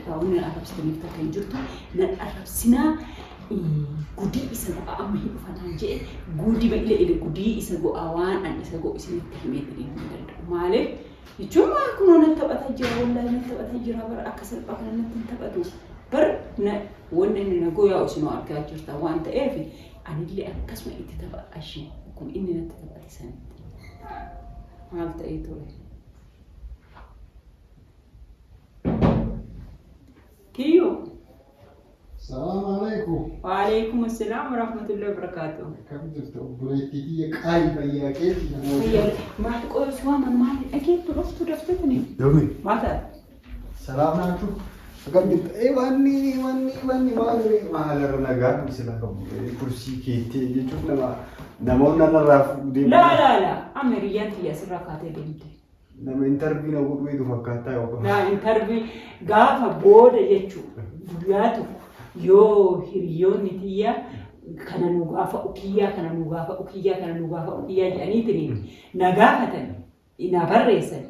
Kaawwina arrabsitanii takka hin jirtu. Nan arrabsinaa gudii isa go'a amma hin dhufataan jee guudi ba'ile ile gudii isa go'a waan an isa go'u isinitti himee jedhee hin danda'u. Maaliif? Jechuun waan kunoo natti taphata jira wallaahi natti taphata jira bara akka salphaa kana natti hin taphatu. Bar na wanni inni na goyaa isinoo argaa jirta waan ta'eef anillee akkasuma itti tapha ashii kun inni natti taphate sanitti. Maal ta'ee ture? Kiyyuu. Salaam alaikum. Waalaikum assalam warahmatullahi wabarakatuh. Akkam jirtu obboleettii biyya qaalii fayyaa keetti Fayyaa maal qoyis waan maal dhageettu dhuftu dafte kuni. Yomi. Maal taate? Salaam alaikum. Akkam jirtu? Ee wanni wanni wanni maali maalarra nagaa kumsi lafa bu'ee kursii keettee jechuun nama namoonni narraa fuudhee. Laa laa laa amma hiriyyaan tiyya asirraa kaatee deemte. Nama interview na godhu eedu fakkaattaa yoo qabu. Naa interview gaafa booda jechuudha. Guyyaa tokko yoo hiriyoonni tiyya kana nu gaafa ukiyyaa kana nu gaafa ukiyyaa kana nu gaafa ukiyyaa jedhaniitiin na gaafatan na barreessan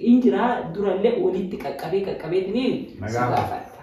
in jiraa durallee walitti qaqqabee qaqqabeetiin Na si gaafata. gaafadha.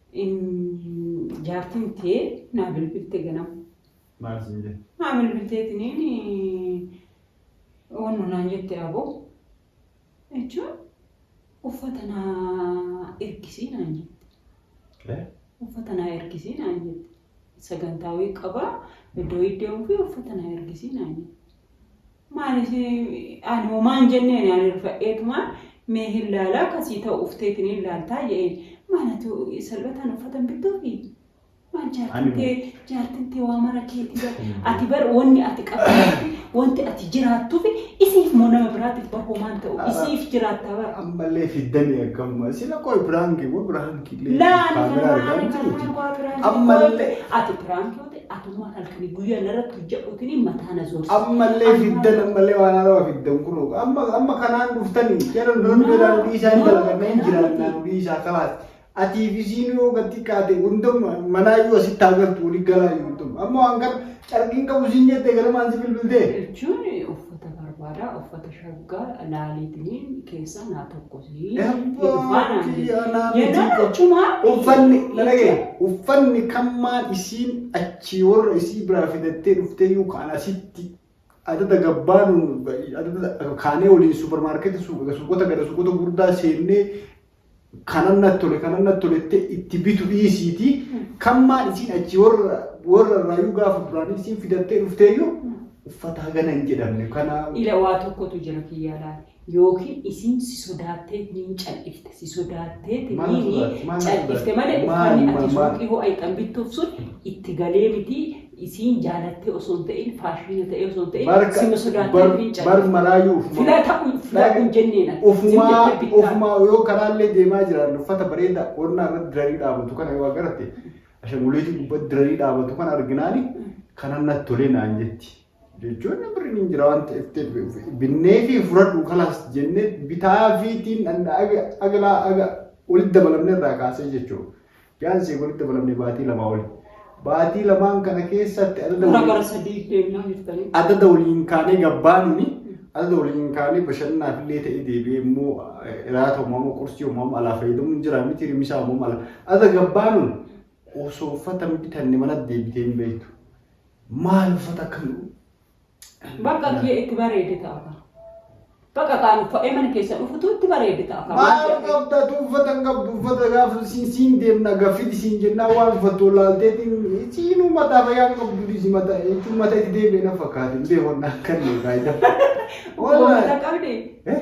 Jaartiin tee naa bilbilte ganama. Maal siin jette? Naa bilbilteetiniin wannu naan jette aboo jechuun uffata naa ergisii naan jette. Uffata naa ergisii naan jette. Sagantaa wayii qabaa iddoo wayii deemuu fi uffata naa ergisii naan jette. Maanis ani homaan jenneen ani rifadheetuma mee hin laalaa kasii ta'u ufteetiin hin laaltaa jedheen. Maalatu salphataan uffatan bittuufi? Maal jaartin tee jaartin tee waa mara keetii bar ati bar wanni ati qabdu wanti ati jiraattuufi isiif moo nama biraatiif bar homaan ta'u isiif jiraattaa bar. Ammallee fiddanii akkamuma sila qoy biraanki wa biraanki illee Laa ani kaamera kana argaa maal jirti. jaarraa waa biraanki Ammallee. Ati biraanki Atummaan halkanii guyyaa narratti hojjadhuutiin mataa na zoorsa. Ammallee fiddan ammallee waan haarawaa fiddan kunoo amma amma kanaan dhuftanii jara nuun jedhaa nu dhiisaa hin dalaganna hin jiraannaa nu dhiisaa kalaas atii fi siin yoo gad xiqqaate hundumma manaa yoo asitti haa galtu wali galaa yoo hundumma amma waan kana carqiin qabu siin jettee ganamaan si bilbiltee. Jechuun uffata barbaadaa uffata Shagga laaliitinii keessaa naa tokkosi. Uffanni lalagee uffanni kammaan isiin achii warra isii biraa fidattee dhuftee yoo kaan asitti adada gabbaanu adada kaanee waliin suuparmaarkeetii suuqota gara suuqota gurdaa seennee kanan natti tole kanan natti tole itti itti bitu dhiisiiti kan maal isiin achi warra warra irraayyuu gaafa duraanii isiin fidattee dhufteeyyuu uffata hagana hin jedhamne kana Ila waa tokkotu jira kiyyaa laale. Yookiin isiin si sodaattee niin cal'ifte. Si sodaattee Maal niin sodaatte? Maal cal'ifte sodaatte? malee Maal, uffanni ati maal, maal? suuqii ho'a itti bittuuf sun itti galee miti isiin jaalattee osoo hin ta'in faashina ta'ee osoo hin ta'in Barka- sima sodaattee bar- ofiin bar callistu. maraayyuu ufumaa- Filata kun filata Dhag- kun jenneen akka Ofumaa jimmettee bittaa. ofumaa yoo karaallee deemaa jiran uffata bareedaa qonnaa irratti dirarii dhaabatu kana yoo agarte ashanguliitii gubbatti dirarii dhaabatu kana arginaani kanan natti tolee naan jetti. Jechuun birriin hin jira waan ta'eef ta'e binnee fi fudhadhu kalaas jennee bitaa fiitiin agalaa aga walitti dabalamne irraa kaasee jechuudha. Fiyaanseef walitti dabalamne baatii lamaa oli. Baatii lamaan kana keessatti adada Gara gara sadii deemnaa jirtanii. adada waliin kaanee gabbaanuni adada waliin kaanee bashannanaaf illee ta'ee deebi'ee immoo iraata uumama qursii uumama alaa fayyadamuun jira miti rimisaa uumama alaa adada gabbaanun osoo uffata hin bitanne mana deebitee hin beektu. Maal uffata akkam Bakka kiyya itti bareede ta'a. Bakka kaan uffadhee mana keessa dhufutu itti bareede ta'a. Maal qabda tu uffata hin qabdu uffata gaafa siin siin deemna gaffiti siin jennaa waan uffattu laalteetiin siinuu mataa fayyaa hin qabdu dhiisi mataa jechuun mataa itti deebi'e na fakkaate hin beeku waan akkan deebi'aa jira. Wanta qabdi. Eh?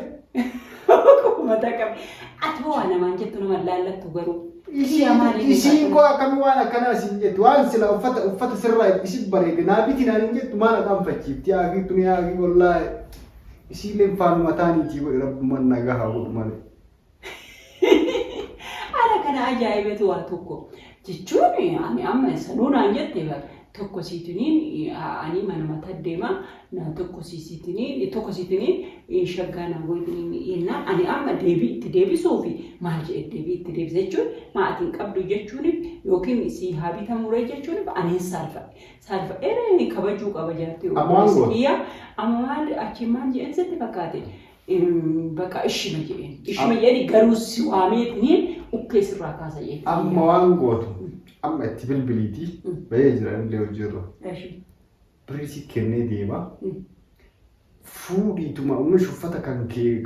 Mataa qabe. Ati hoo waa namaan jettu nama laallattu garuu. Ishii amaan hin Ishiin ibsatu. koo akkamii waan akkanaa siin jettu waan sila uffata uffata sirraa isin bareede naa biti naan hin jettu maal aqaan fachiifti haakii tuni haakii wallaahi isiilleen faanuma taaniitii godhe rabbumaan nagaa haa godhu malee. Haala kana ajaa'ibetu waa tokko. jechuun ani amma sanuu naan jette bar tokko siitiniin ani manuma taddeema na tokko siitiniin tokko siitiniin shaggaa na gootiniin yennaa ani amma deebii itti deebisuu fi maal jedhe deebii itti deebisa jechuun maatiin qabdu jechuuniif yookiin sii haa bitamuree jechuuniif ani hin saalfadhe saalfadhee kabajuu qaba jaartii obboleessa kiyya amma maal achi maal jedhan sitti fakkaate Baqa ishima jedheen. Ishima jedheen garuu si waamee tuniin ukkee sirraa kaasa jedheen. Amma waan gootu amma itti bilbiliiti bahee jira illee hojiirra. Birrii si kennee deema. Fuudhiituma ummish uffata kan kee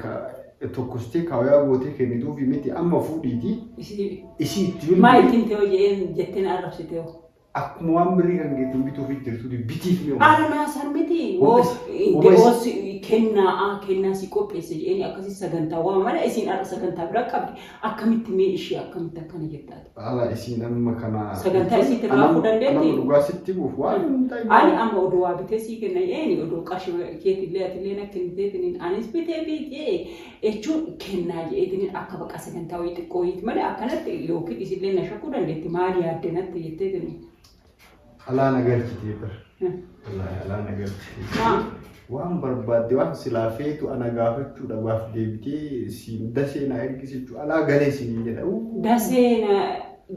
tokkostee kaawayaa gootee kennituufi miti amma fuudhiiti. Isii itti bilbili. Maal ittiin ta'u jedheen jettee na arrabsitee hoo? Akkuma waan birrii kan geettiin bituufi jirtuuti bitiif mee uummata. Armaa san miti woo Qopheessi. eh, Qopheessi. de'oon si- kennaa ah, kennaa si qopheesse jedheen akkasii sagantaa waa mala isin har'a sagantaa biraa qabdi akkamitti mee ishee akkamitti akkana jettaati. Ala isiin amma kana. Sagantaa isiitti Anam- raafuu dandeetti? anam dhugaa sitti buuf waan hin ta'in. Ani amma oduu waa bitee sii kenna eeni oduu qarshii keetillee atillee na kenniteetiniin anis bitee biitee jechuun kennaa je'eetiniin akka baqa sagantaa wayii xiqqoo wayiiti malee akkanatti yookiin isillee na shakkuu dandeetti maal yaadde natti jetteetiniin. Alaa na galchitee bar. Wallaahi alaa na galchitee. Maa Waan barbaadde waan silaa feetu ana gaafachuu dhabaaf deebitee siin dasee na ergisi jechuu alaa galee siin jedha. Uu. dasee na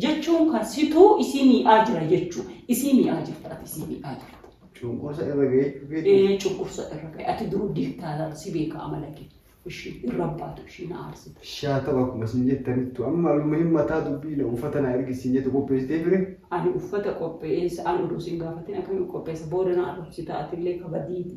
jechuun kan situu isii mii'aa jira jechuu isii mii'aa jirta ati isii mii'aa jirta. Cunqursa irra ga'ee jechuu keeti. Ee cunqursa irra ga'e ati duruu diktaatar si beeka amala kee ishii irra baatu ishii na aarsite. Shaa ta'u akkuma siin jettanittu amma aluma hin mataa dubbii na uffata na ergi siin jettu qopheessitee fire. Ani uffata qopheessa ani oduu siin gaafatin akkamiin qopheessa booda na arrabsita atillee kabadiiti.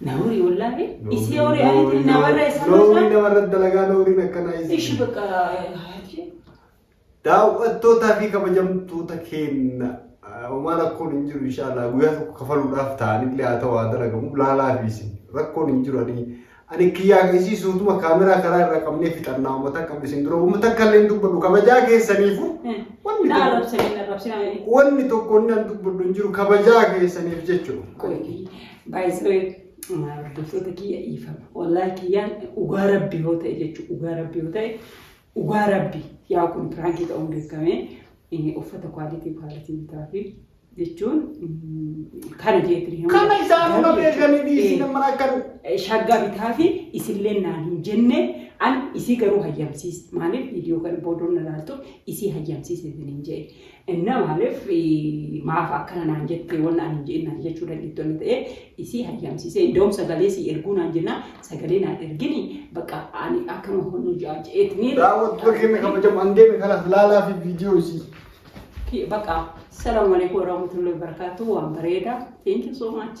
Nauri wallahi isi ori ani na warra isa Loomii masa. namarra dalagaa looriin akkanaa Ishi isin. bakka hayati. Daawwattootaa fi kabajamtoota keenya ah, homaa rakkoon hin jiru inshaallah guyyaa tokko kafaluudhaaf ta'anillee haa ta'u haa dalagamu laalaa fi isin rakkoon hin jiru ani ani kiyyaa isii suutuma kaameraa karaa irraa qabnee fixannaa uummata qabne isin dura uummata kallee hin dubbadhu kabajaa keessaniifu wanni Na tokko- arabsani na arabsani. wanni tokko inni an dubbadhu hin jiru kabajaa keessaniif jechuudha. Koiti. Baay'isee hordoftoota kiyya dhiifama. Wallaahi kiyyaan dhugaa rabbi yoo ta'e jechuudha. Dhugaa rabbi yoo ta'e dhugaa rabbi yaa kun piraankii ta'uun beekamee inni uffata kwaalitii kwaalitii bitaa fi jechuun mm, kana jeetiin hima. Kana isaanuma beekanii dhiisii nama akkan shaggaa bitaa fi isillee naan hin jenne an isii garuu hayyamsiis maaliif viidiyoo kana boodoon ilaaltu isii hayyamsiis isin hin jee Inna maaliif maaf akkana naan jettee wanna ani hin je'in naan jechuu dandeettu wanni ta'e isii hayyamsiisee iddoom sagalee sii erguu naan jennaan sagalee naan ergini bakka ani akkana honu ja'a je'eetni Daawwattoota keenya kabajamu an deeme kanaaf laalaa fi viidiyoo isii. bakka salaamu alaikum warahmatullahi wabarakatuh waan bareeda thank you so much.